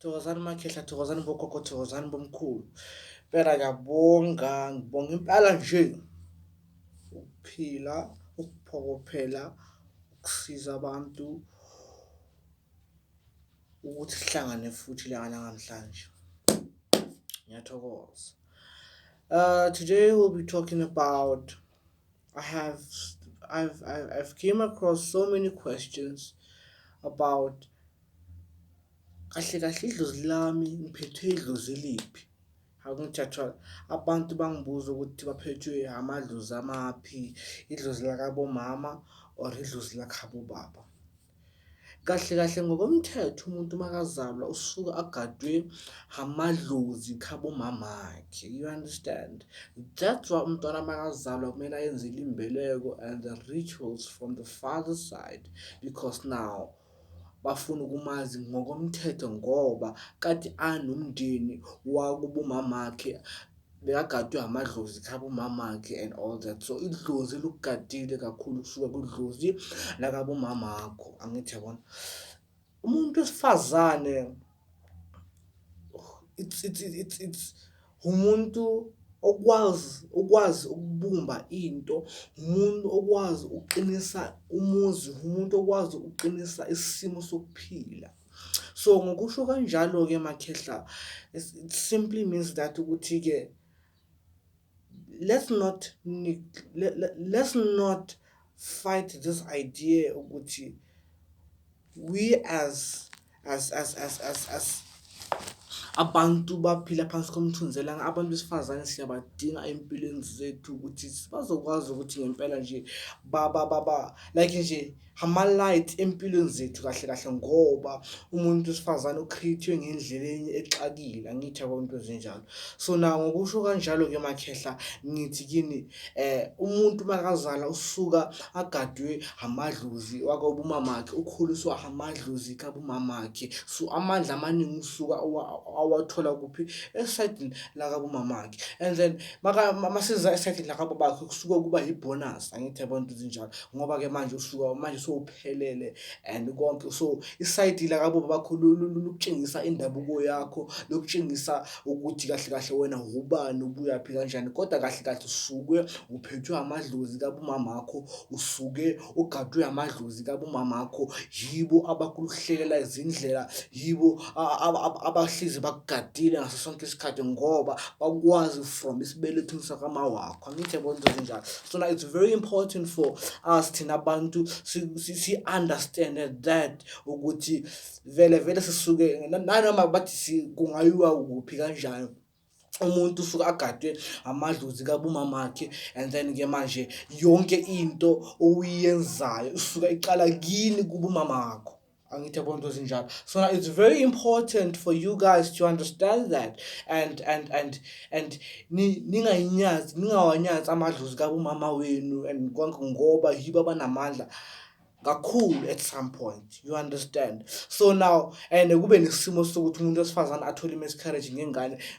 thokozani makhehla thokozani bogogo thokozani bomkhulu impela ngiyabonga ngibonga impela nje ukuphila ukuphokophela ukusiza abantu ukuthi sihlangane futhi la namhlanje ngiyathokoza uh today we'll be talking about I have I've I've came across so many questions about kahle kahle idlozi lami ngiphethwe idlozi liphi akungithathwa abantu bangibuza ukuthi baphethwe amadlozi amaphi idlozi lakabomama or idlozi lakhabo baba. Kahle kahle ngokomthetho umuntu makazalwa usuke agadwe amadlozi khabo mamakhe you understand. That's why umntwana makazalwa kumele ayenzelwe imbeleko and the rituals from the father side because now bafuna ukumazi ngokomthetho ngoba kade anomndeni wakubo mamakhe. bekagadwe amadlozi khabo mamakhe and all that so idlozi lukugadile kakhulu kusuka kudlozi nakabo mamakho angithi yabona umuntu wesifazane it's it's it's it's umuntu okwazi ukwazi ukubumba into umuntu okwazi ukuqinisa umuzi umuntu okwazi ukuqinisa isimo sokuphila So ngokusho kanjalo-ke Makhehla it simply means that ukuthi-ke let's not let's not fight this idea ukuthi we as as as as as as abantu baphila phansi komthunzi elanga abantu besifazane siyabadinga ey'mpilweni zethu ukuthi bazokwazi ukuthi ngempela nje ba ba ba ba like nje. ama-light empilweni zethu kahle kahle ngoba umuntu wesifazane ukhithwe ngendleleni exakile angithi yabo into ezinjalo so na ngokusho kanjalo-ke makhehla ngithi kini eh umuntu makazala usuka agadwe amadlozi wakobumamakhe ukhuliswa amadlozi kabumamakhe so amandla amaningi usuka awathola kuphi esayidini lakabumamakhe and then maseza esayidini lakababakhe kusuke kuba yi-bonus angithi yabo into ezinjalo ngoba ke manje usuka manje sowuphelele and konke so isayidi lakabo bakhululu lokutshengisa indabuko yakho lokutshengisa ukuthi kahle kahle wena ubani ubuyaphi kanjani kodwa kahle kahle usuke uphethwe amadlozi kabumama wakho usuke ugadwe amadlozi kabumama wakho yibo abakuluhlelela izindlela yibo abahlizi bakugadile ngaso sonke isikhathi ngoba bakwazi from isibelethweni sakamawakho angithi bonto zinjalo so like it's very important for us thina bantu si-understand that ukuthi vele vele sisuke nanoma bathi kungayiwa kuphi kanjani umuntu usuke agadwe amadlozi kabumamakhe and then ke manje yonke into oyiyenzayo usuke iqala kini kubumamakho angithi yabona into ezinjalo so now it's very important for you guys to understand that and and and and ningayinyazi ningawanyazi amadlozi kabumama wenu and konke ngoba yibo abanamandla kakhulu at some point you understand so now and kube nesimo sokuthi umuntu wesifazane athole i-miscarriage ngengane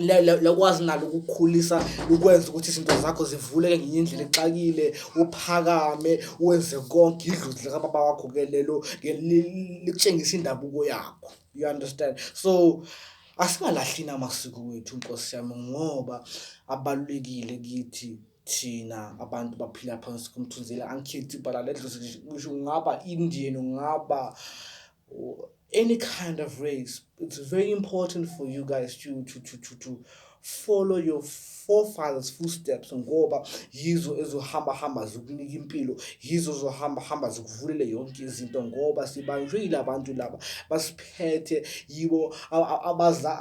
lakwazi nalo ukukhulisa ukwenza ukuthi izinto zakho zivuleke ngenye indlela exakile uphakame wenze konke idlozi likababa wakho ke lelo likutshengisa indabuko yakho you understand so asingalahlini amasiko wethu nkosi yami ngoba abalulekile kithi thina abantu baphila phansi komthunzela angikhethi ibhala ledlozi ngisho ungaba indian ungaba any kind of race, it's very important for you guys to to to to, to follow your forefathers footsteps ngoba yizo ezohamba hamba zokunika impilo yizo zohamba hamba zokuvulele yonke izinto ngoba sibanjwe yilabantu laba basiphethe yibo abaza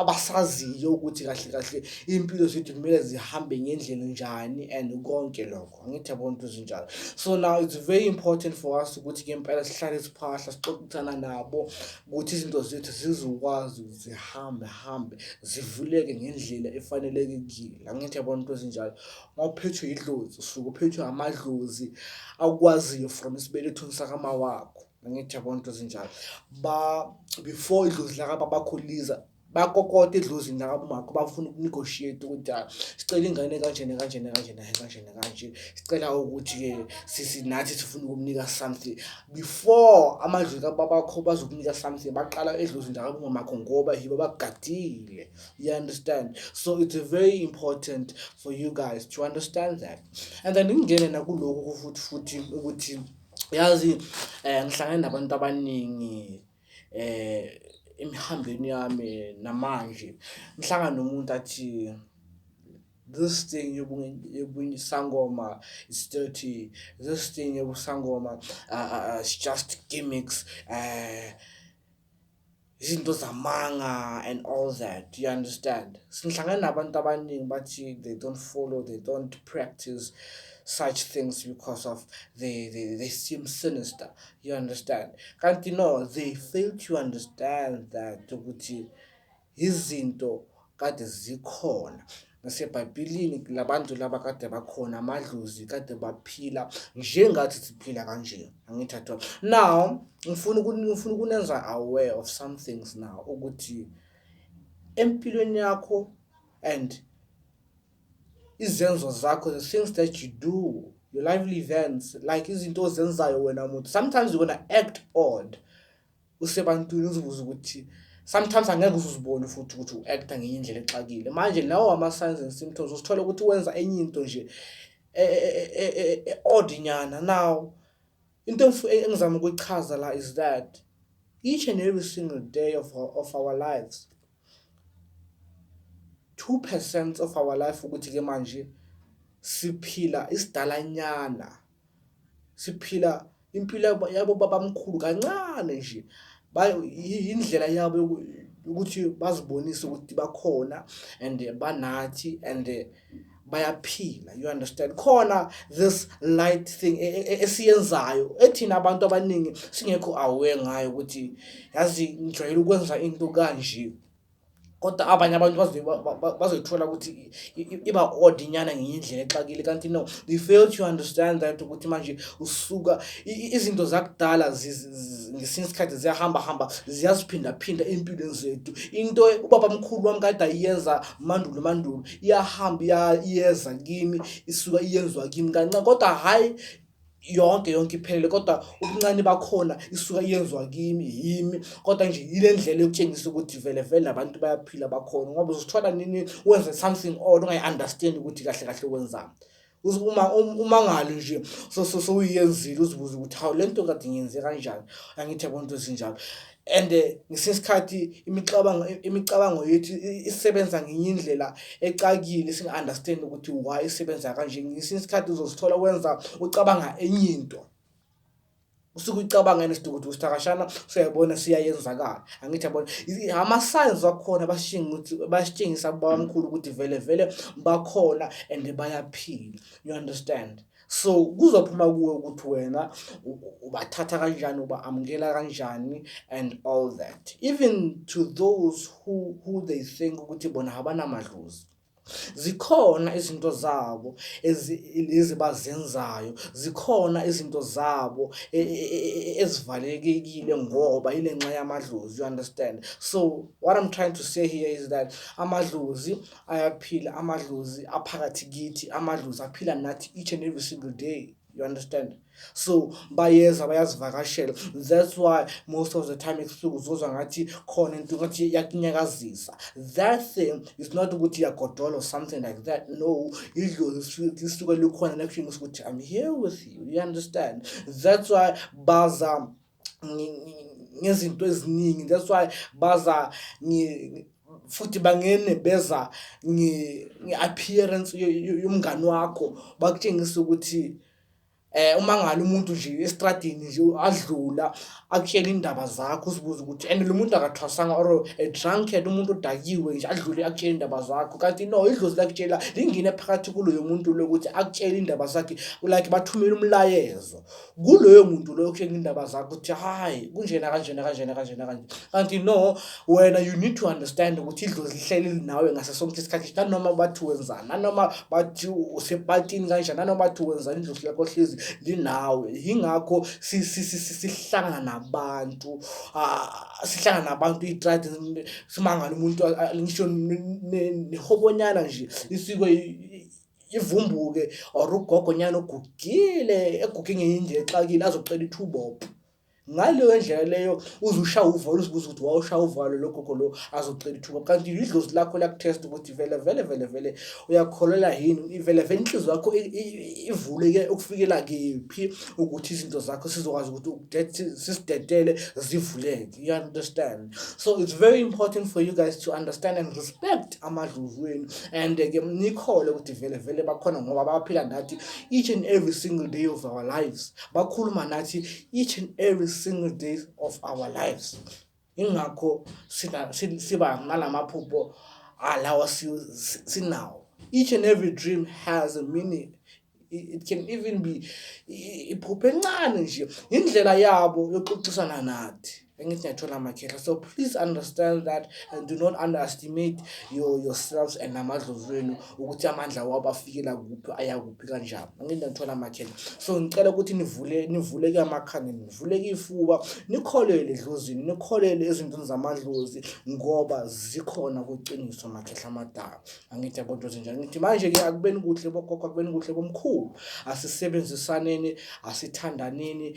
abasaziyo ukuthi kahle kahle impilo zethu kumele zihambe ngendlela njani and konke lokho angithi yabona into ezinjalo so now it's very important for us ukuthi ke impela sihlale siphahla sixoxisana nabo ukuthi izinto zethu zizokwazi zihambe hambe zivuleke ngendlela efanelekile angithi yabona into ezinjalo mawuphethwe idlozi usuke uphethwe amadlozi akwaziyo from isibelethweni sakama wakho angithi yabona into ezinjalo ba before idlozi lakababa kholiza bakokota edlozini lakamakho bafuna ukunegotiate ukuthi ah, sicela ingane kanjena kanjena kanjena kanjena kanje sicela ukuthi-ke sisi nathi sifuna ukumnika something before amadlozi kababakho bazokunika something baqala edlozini lakamakho ngoba yibo bagadile you understand so it's very important for you guys to understand that and then ingene nakuloku futhi futhi ukuthi yazi um ngihlangane nabantu abaningi emihambeni yami namanje ngihlangana nomuntu athi this thing yobunyisangoma is dirty this thing yobusangoma uh, uh, it's just gimmicks uh, izinto zamanga and all that you understand singihlangana nabantu abaningi bathi they don't follow they don't practice such things because of they, they, they seem sinister you understand kanti no they fail to understand that ukuthi izinto kade zikhona nasebhayibhilini labantu laba kade bakhona amadlozi kade baphila njengathi siphila kanje angithathwa now ngifuna ngifuna ukunenza aware of some things now ukuthi empilweni yakho and izenzo zakho the things that you do your lively events like izinto ozenzayo wena muntu sometimes you're gonna act odd usebantwini uzibuza ukuthi sometimes angeke uzibone futhi ukuthi u-acta ngenye indlela exakile manje lawo ama-signs and symptoms usithole ukuthi wenza enye into nje e, e, e, e-odd nyana now into engizama ukuyichaza la is that each and every single day of our, of our lives Two percent of our life ukuthi-ke manje siphila isidalanyana, siphila impilo yabo babamkhulu kancane nje. Indlela yabo yokuthi bazibonise ukuthi bakhona and banathi and. bayaphila you understand khona this light thing e, e, e, esiyenzayo ethina abantu abaningi singekho aware ngayo ukuthi yazi ngijwayele ukwenza into kanje kodwa abanye abantu bazoyithola ukuthi iba odd inyana ngenye indlela exakile kanti no they fail to understand that ukuthi manje usuka izinto zakudala ngesinye isikhathi ziyahambahamba ziyaziphindaphinda ey'mpilweni zethu into ubaba mkhulu wami kade ayiyenza mandulo mandulo iyahamba iya- iyeza kimi isuka iyenziwa kimi kancane kodwa hhayi yonke yonke iphelele kodwa ubuncane bakhona isuka iyenziwa kimi yimi kodwa nje yile ndlela yokutshengisa ukuthi vele vele abantu bayaphila bakhona ngoba uzosithola nini wenze something odd ungayi-understand ukuthi kahle kahle wenzani uma um, umangalo nje sowuyenzile uzibuze ukuthi hawu le nto kade ngiyenze kanjani angithi yabona into ezinjalo and eh, ngesinye isikhathi imicabango imicabango yethu isebenza ngenye indlela ecakile singa-understand ukuthi why isebenza kanje ngesinye isikhathi uzozithola wenza ucabanga enye into usuke ucabanga nesidukudu usithakashana siyabona siyayenzakala angithi yabona ama-signs wakhona basitshengisa babamkhulu ukuthi vele vele bakhona and bayaphila you understand so kuzophuma kuwe ukuthi wena ubathatha kanjani uba-amukela kanjani and all that even to those who, who they think ukuthi bona abanamadlozi zikhona izinto zabo lezi bazenzayo zikhona izinto zabo e, e, e, ezivalekekile ngoba yile nxa yamadlozi you understand so what i'm trying to say here is that amadlozi ayaphila amadlozi aphakathi kithi amadlozi aphila nathi each and every single day you understand so bayeza bayazivakashela that's why most of the time ebusuku uzozwa ngathi khona into ngathi iyakunyakazisa that thing is not ukuthi iyagodola or something like that no idlozi lisuke likhona nakutshengisa ukuthi i'm here with you you understand that's why baza ngezinto eziningi that's why baza futhi bangene beza nge-appearance yomngani wakho bakutshengisa ukuthi eh uma ngalo umuntu nje estradini nje adlula akutshela indaba zakho uzibuza ukuthi and lo muntu akathwasanga or a drunkard umuntu odakiwe nje adlule akutshela indaba zakho kanti no idlozi lakutshela lingene phakathi kuloyo muntu lokuthi akutshela indaba zakhe like bathumela umlayezo kuloyo muntu loyo okutshela indaba zakho ukuthi hayi kunjena kanjena kanjena kanjena kanje kanti no wena you need to understand ukuthi idlozi lihleli linawe ngaso sonke isikhathi nanoma bathi wenzani nanoma bathi usepatini kanjani nanoma bathi wenzani idlozi lakho hlezi linawe yingakho sihlangana nabantu ah, sihlangana nabantu itrade simangala umuntu ngisho nehobonyana nje isiko ivumbuke or ugogonyana ogugile eguge ngenye indlela exakile azocela ithubopo ngaleyo ndlela leyo uze ushaya uvalo uzibuza ukuthi wawushaya uvalo lo gogo lo azocela ithuba kanti yidlozi lakho liyakuthesta ukuthi vele vele vele vele uyakholelwa yini vele vele inhliziyo yakho ivuleke ukufikela kephi ukuthi izinto zakho sizokwazi ukuthi sisidedele zivuleke you understand so it's very important for you guys to understand and respect amadlovu wenu and-ke eh, nikhole ukuthi vele vele bakhona ngoba baphila nathi each and every single day of our lives bakhuluma nathi each and every single day of our lives ingakho siba nalamaphupho alawa sinawo each and every dream has a meaning it can even be iphupho encane nje indlela yabo yokuxoxisana nathi angithi ngiyathola amakhehla so please understand that and do not underestimate your yourselves and amadlozi wenu ukuthi amandla wabo afikela kuphi ayakuphi kanjani angithi ngiyathola amakhehla so ngicela ukuthi nivule nivuleke amakhanda nivuleke ifuba nikholele edlozini nikholele ezintweni zamadlozi ngoba zikhona kuqiniso amakhehla amadala angithi yabonto zinjani ngithi manje-ke akubeni kuhle bogogo akubeni kuhle komkhulu asisebenzisaneni asithandaneni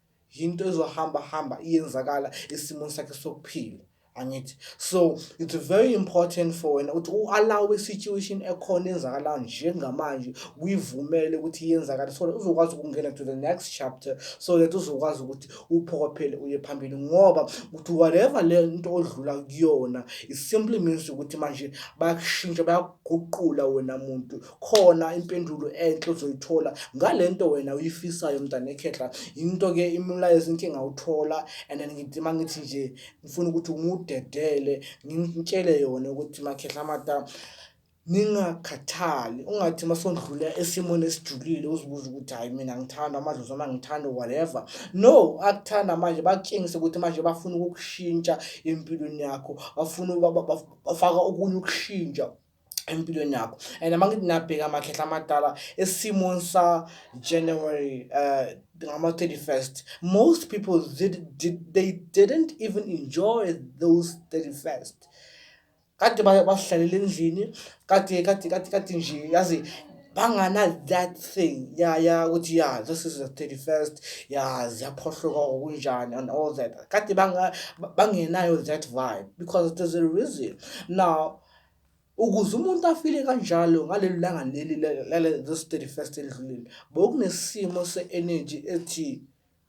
yinto ezohamba hamba iyenzakala esimweni sakhe sokuphila angithi so it's very important for wena ukuthi u-allow i-situation ekhona enzakalayo njengamanje uyivumele ukuthi iyenzakala so that uzokwazi ukungena to the next chapter so that uzokwazi ukuthi uphokophele uye phambili ngoba ukuthi whatever le nto odlula kuyona it simply means ukuthi manje bayakushintsha bayakuguqula wena muntu khona impendulo enhle uzoyithola ngale nto wena uyifisayo mntana ekhehla yinto-ke imilayezo into engawuthola and then ngidima ngithi nje ngifuna ukuthi ngudedele ngimtshele yona ukuthi makhehla mata ningakhathali ungathi uma sondlula esimweni esijulile uzibuze ukuthi hhayi mina ngithanda amadlozi noma ngithanda whatever no akuthanda manje bakutshengise ukuthi manje bafuna ukukushintsha empilweni yakho bafuna bafaka okunye ukushintsha empilweni yakho and uma ngithi nabheka amakhehla amadala esimweni sa-january um ngama-thirty-first most people did, did, they didn't even enjoy those thirty-first kade bahlalele endlini kade kade kade kade nje yazi bangana that thing ya ya ukuthi ya this is the thirty first ya ziyaphohloka okunjani and all that kade bangenayo that vibe because there's a reason now Ukuze umuntu afile kanjalo ngaleli langa leli lezi 31 elidlulile bokunesimo se-eneji ethi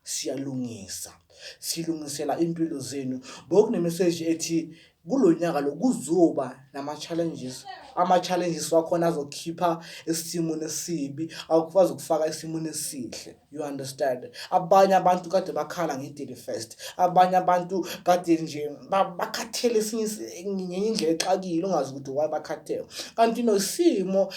siyalungisa silungisela impilo zenu bokunemeseji ethi kulo nyaka lo kuzoba nama-challenges ama-challenges wakhona azokhipha esimweni esibi akwazi ukufaka esimweni esihle You understand? Abanye abantu kade bakhala nge-Daily First. Abanye abantu kade nje bakhathele ngenye indlela exakile ungazi ukuthi why bakhathele. Kanti nosimo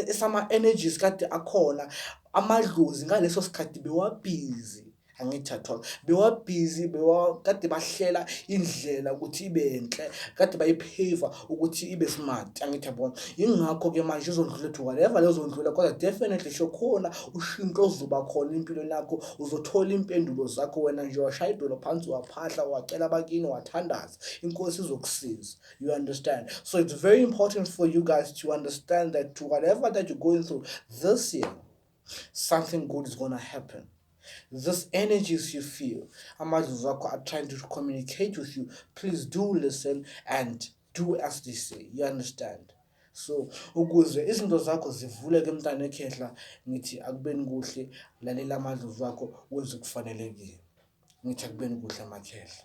esama-energies kade akhona amadlozi ngaleso sikhathi bewabhizi. angithi at all bewabhizi kade bahlela indlela ukuthi ibe nhle kade bayipheva ukuthi ibe smart angithi yabona yingakho-ke manje uzondlula ethi whatever lezondlula kodwa definitely shokhona ushintsho ozoba khona empilweni yakho uzothola iimpendulo zakho wena nje washaya idolo phansi waphahla wacela abakini wathandaza inkosi izokusiza you understand so it's very important for you guys to understand that whatever that you're going through this year something good is gonna happen this energies you feel amadlozi akho are trying to communicate with you please do listen and do as they say you understand so ukuze izinto zakho zivuleke mntana ekhehla ngithi akubeni kuhle lalela amadlozi akho wenze kufanelekile ngithi akubeni kuhle amakhehla